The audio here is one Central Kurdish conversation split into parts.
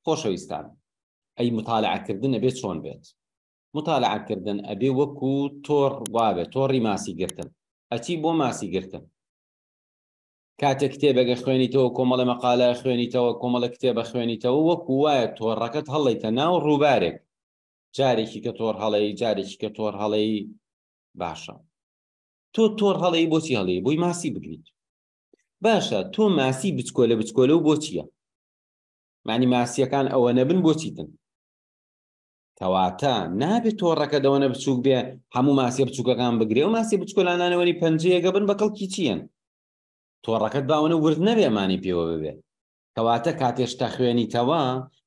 خۆشەویستان ئەی متالعکردن ئەبێ چۆن بێت متالعکردن ئەبێ وەکو تۆڕ وابێت تۆڕی ماسی گرتن ئەچی بۆ ماسی گرتن کاتێک کتێبەگە خوێنیتەوە کۆمەڵە مەقالە خوێنیتەوە کۆمەڵە کتێبە خوێنیتەوە وەکو وایە تۆڕەکەت هەڵیتە ناو ڕووبارێک جارێکی کە تۆڕ هەڵەی جارێکی کە تۆڕ هەڵەی باشە تۆ تۆڕ هەڵەی بۆچی هەڵەی بۆی ماسی بگریت باشە تۆ ماسی بچکۆلە بچکۆلە و بۆچیە معنی ماسیەکان ئەوەنەبن بۆ چیتن کەواتە نابێت تۆڕەکە دەوەنە بچووک بێ هەموو ماسیە بچووکەکان بگرێ و ماسی بچکۆلانانەوەنی پەنجەیەگە بن بە کەڵکی چیەن تۆڕەکەت باوەنە ورد نەبێمانی پێوە ببێ کەواتە کاتێشتا خوێنیتەوە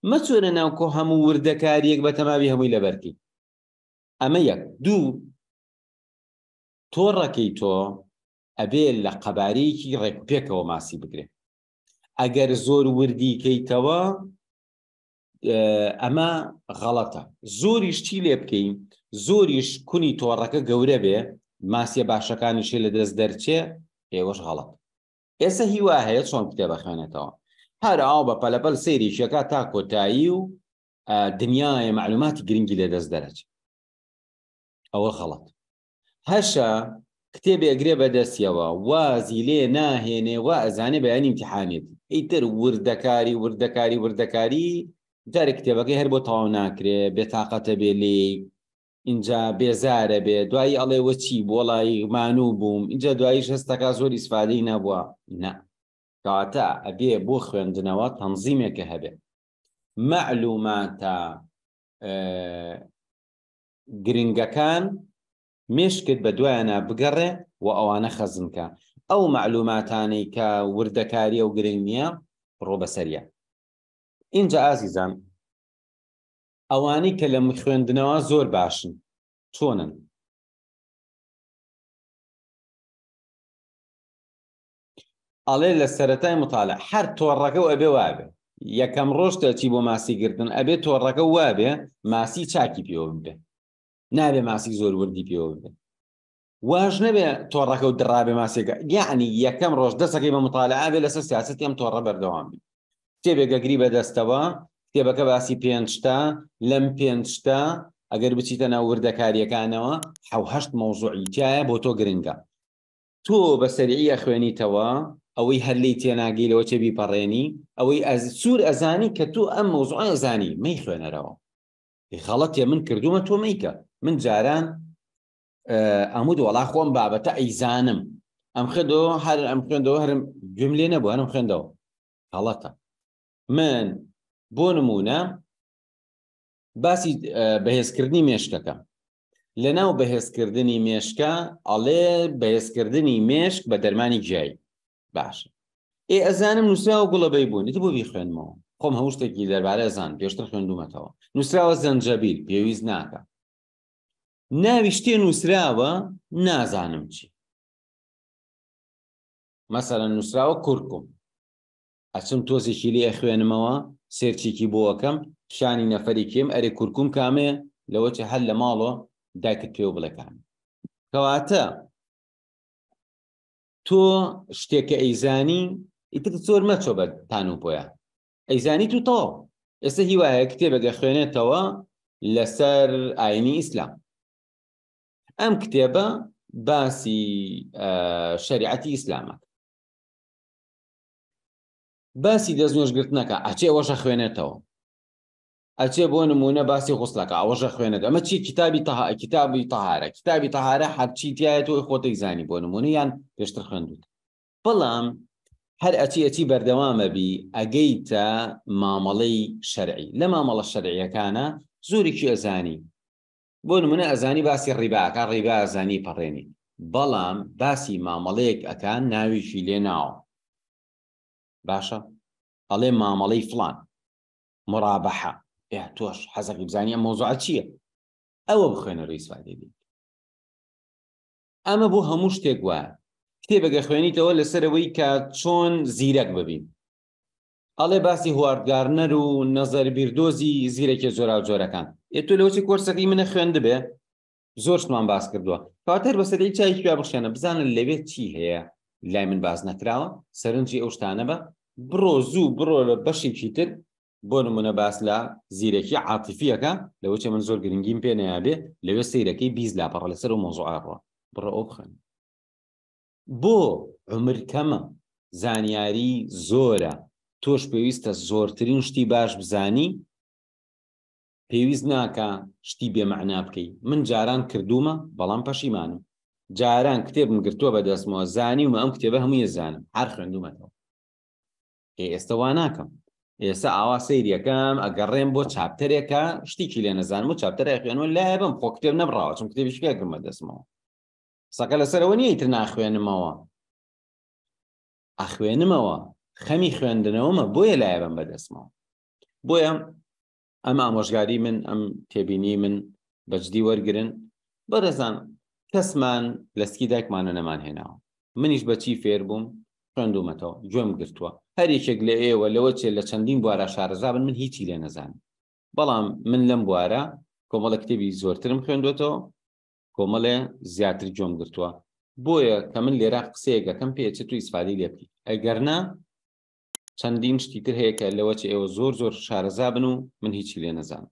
مەچۆرە ناو کۆ هەموو وردەکاریەک بە تەماوی هەمووی لەبەرکی ئەمە یەک دوو تۆڕەکەی تۆ ئەبێ لە قەبارەیەکی ڕێکپێکەوە ماسی بگرێت ئەگەر زۆر وردی کەیتەوە ئەمە غەڵەتە زۆریش چی لێ بکەین زۆریش کونی تۆڕەکە گەورە بێ ماسیە باشەکانیشی لە دەست دەرچێ ئێوەش غەڵەت ئێستا هیوا هەیە چۆن کتێ بەخوێنێتەوە هەر ئاو بە پەلەپەل سەیریشەکە تا کۆتایی و دنیای معلوماتی گرنگی لە دەست دەرەچێت ئەوە غەڵەت هەشە کتێبێ ئەگرێ بە دەستیەوە وازی لێ ناهێنێ وا ئەزانێ بەیانی امتحانێت ئیتر وردەکاری وردەکاری وردەکاری جارێک کتێبەکەی هەر بۆ تەواو ناکرێ بێتاقەتە بێ لێ اینجا بێزارە بێ دوایی ئەڵێ وەچی بۆڵایی مانوو بووم اینجا دواییش هەستەکە زۆر ئیسفادەی نەبووە نە کاتە ئەبێ بۆ خوێندنەوە تەنزیمێکە هەبێ معلوماتە گرنگەکان مێشکت بە دوایانا بگەڕێ و ئەوانە خەزن کە ئەو مەعلوماتانەی کە وردەکاریە و گرنگ نییە ڕۆ بەسەریە ئینجا ئازیزان ئەوانەی کە لە خوێندنەوە زۆر باشن چۆنن ئەڵێ لە سەرەتای مطالە هەر تۆڕەکە و ئەبێ وابێ یەکەم ڕۆشتە چی بۆ ماسی گردن ئەبێ تۆڕەکە وابێ ماسی چاکی پێوە بێ نابێ ماسی زۆر وردی پێوە بێ واش نەبێ تۆڕەکە و دڕابێ ماسێکە یعنی یەکەم ڕۆژ دەسەکەی بە مطالە ئابێ لەسەر سیاست ئەم تۆڕە بەردەوام بێ کتێبێکە گری بەدەستەوە کتێبەکە باسی پێنجتا لەم پێنجتا ئەگەر بچیتە ناو وردەکاریەکانەوە حوهشت مەوزوعیتایە بۆ تۆ گرنگە تۆ بە سەریعی ئەخوێنیتەوە ئەوەی هەر لێی تێناگەی لەوە چێ بیپەڕێنی ئەوەی ئەز سوور ئەزانی کە تۆ ئەم مەوزوعە ئەزانی مەیخوێنەرەوە ئێ غەڵەتێ من کردوومە تۆ مەیکە من جاران ئەمود وەڵا خۆم بابەتە ئەیزانم ئەم خوێندەوە هەر ئەم خوێندەوە هەرم گوێم لێ نەبوو هەرم خوێندەوە غەڵەتە من بۆ نمونە باسی بەهێزکردنی مێشکەکە لەناو بەهێزکردنی مێشکە ئەڵێ بەهێزکردنی مێشک بە دەرمانی جیایی باش ئێ ئەزانم نووسراوە گوڵەبەی بوون ئیتر بۆ بیخوێنمەوە خۆم هەموو شتێکی دەربارە زان پێشتر خوێندومەتەوە نووسراوە زەنجەبیل پێویست ناکە ناوی شتێ نووسراوە نازانم چی مەسەرە نووسراوە کورکم ئەچم تۆزێکی لێ ئەخوێنمەوە سێرچێکی بۆ ئەکەم پیشانی نەفەرێکی ئەم ئەرێ کورکوم کامەیە لەوەچێ هەر لە ماڵەوە دایکت پێو بڵێ کامە کەواتە تۆ شتێکە ئەیزانی ئیتر زۆر مەچۆ بە تان و پۆیان ئەیزانی تو تەواو ئێستا هیوایە کتێبەگە خوێنێتەوە لەسەر ئاینی ئیسلام ئەم کتێبە باسی شریعەتی ئیسلامە باسی دەست نوێژ گرتنەکە ئەچێ وەشە خوێنێتەوە ئەچێ بۆ نمونە باسی غوسلەکە ئەوەشە خوێنێت ئەمە چی کتابی تەها کتابی تەهارە کتابی تەهارە حەبچی تایە تۆی خۆتەی زانی بۆ نمونە یان پێشتر خوێندوت بەڵام هەر ئەچی ئەچی بەردەوامە بی ئەگەیتە مامەڵەی شەرعی لە مامەڵە شەرعیەکانە زۆرێکی ئەزانی بۆ نمونە ئەزانی باسی ڕیبا ئەکا ڕیبا ئەزانی پەڕێنی بەڵام باسی مامەڵەیەک ئەکا ناویشی لێ ناوە باشە ئەڵێ مامەڵەی فڵان مڕابەحە یا تۆش حەزەکی بزانانی ئەم مۆزوع چییە ئەوە بخوێنە ڕیسوادی بێت ئەمە بۆ هەموو شتێک وایە کتێبەگە خوێنیتەوە لەسەرەوەی کە چۆن زیرەک ببین ئەڵێ باسی هوارد گارنەر و نەزەر بیردۆزی زیرەکیە جۆراوجۆرەکان ئێ تۆ لەوەچی کۆرسەکەی منە خوێندبێ زۆر شتمان باس کردووە کاتەر بە سەدەی چای پیا بخشێنە بزانن لەوێت چی هەیە لای من باز نەکراوە سەرنجی ئەو شتانە بە بڕۆ زوو بڕۆ لە بەشێکی تر بۆ نمونە باس لە زیرەکی عاتیفیەکە لەوەچە من زۆر گرنگیم پێ نەیابێ لەوێ سیرەکەی بیست لاپەڕە لەسەر و مۆزوعڕوە بڕە ئەو بخن بۆ عومر کەمە زانیاری زۆرە تۆش پێویستە زۆرترین شتی باش بزانی پێویست ناکە شتی بێ مەعنا بکەی من جاران کردومە بەڵام پەشیمانم جاران کتێبم گرتووە بە دەستمەوە زانی ومە ئەم کتێبە هەموو یەزانم هەر خوێندومەتەوە ئێ ئێستا وا ناکەم ئێستا ئاوا سەیریەکەم ئەگەڕێم بۆ چاپتەرێکە شتێکی لێ نەزانم و چاپتەرە خوێنەوە لای بم خۆ کتێب نەبڕاوە چم کتێبیشکە گرمە دەستمەوە قسەکە لەسەر ئەوە نیە تر ناخوێنمەوە ئەخوێنمەوە خەمی خوێندنەوەمە بۆیە لایەبم بەدەستمەوە بۆیە ئەم ئامۆژگاری من ئەم تێبینی من بەجددی وەرگن بەرەزان کەسمان لەسکی دایکمانە نەمان هێناوە منیش بەچی فێر بووم خوێندومەتەوە گوێم گرتووە هەر یەکێک لە ئێوە لەوە چێ لە چەندین بوارە شارەزابن من هیچی لێ نەزانم بەڵام من لەم بوارە کۆمەڵە کتێبی زۆرترم خوێندوێتەوە کۆمەڵێ زیاتر گوێم گرتووە بۆیە کە من لێرا قسەیەکەکەم پێچێت و ئیسفادی لێ بکەیت ئەگەرنا چەندین شتی تر هەیە کە لەوە چ ئێوە زۆر زۆر شارەزا بن و من هیچی لێ نەزانم